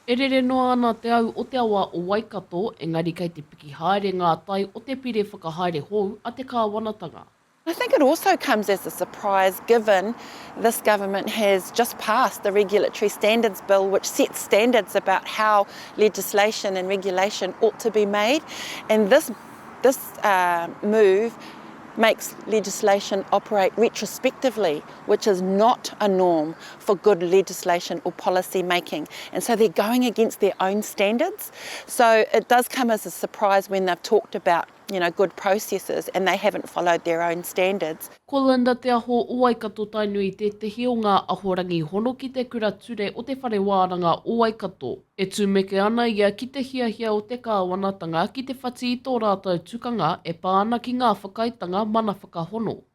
E rere noa ana te au o te awa o Waikato, engari kei te piki haere ngā tai o te pire whakahaere hou a te kāwanatanga. I think it also comes as a surprise given this government has just passed the Regulatory Standards Bill which sets standards about how legislation and regulation ought to be made and this this move makes legislation operate retrospectively which is not a norm for good legislation or policy making and so they're going against their own standards so it does come as a surprise when they've talked about you know good processes and they haven't followed their own standards. Ko Linda Te Aho o Waikato Tainui tētehi o ngā ahorangi hono ki te kura ture o te Whare Wānanga o Waikato. E tumeke ana ia ki te hiahia o te kāwanatanga ki te whati i tō rātou tukanga e pā ana ki ngā whakaaetanga mana whakahono.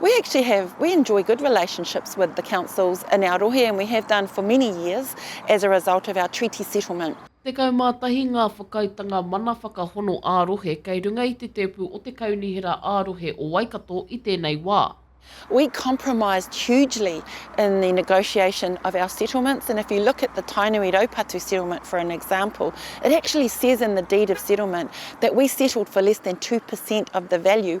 We actually have, we enjoy good relationships with the councils in our rohe and we have done for many years as a result of our treaty settlement. 11 ngā whakaaetanga mana whakahono ā-rohe kei runga i te tēpu o te Kaunihera ā-Rohe o Waikato i tēnei wā. We compromised hugely in the negotiation of our settlements and if you look at the Tainui Raupatu settlement for an example, it actually says in the deed of settlement that we settled for less than two per cent of the value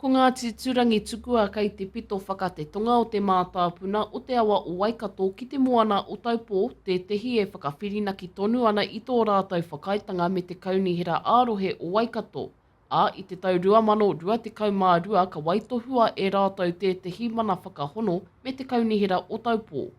Ko Ngāti Turangitukua kei te pito whakate tonga o te mātāpuna o te awa o Waikato ki te moana o Taupō, tētehi e whakawhirinaki tonu ana i tō rātou whakaaetanga me te Kaunihera ā-Rohe o Waikato, ā, i te tau 2022 ka waitohua e rātou tētehi mana whakahono me te Kaunihera o Taupō.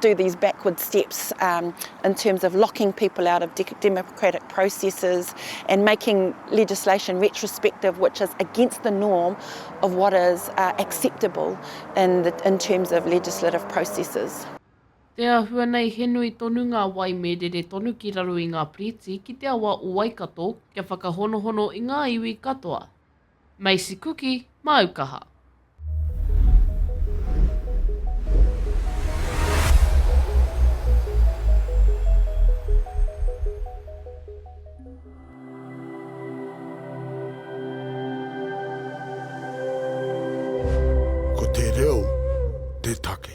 do these backward steps um, in terms of locking people out of de- democratic processes and making legislation retrospective, which is against the norm of what is uh, acceptable in, the, in terms of legislative processes. Te ahua nei he nui tonu ngā wai me rere tonu ki raro i ngā piriti ki te awa o Waikato kia whakahonohono i ngā iwi katoa. Macy Kuki, māu kaha. Ko te reo te take.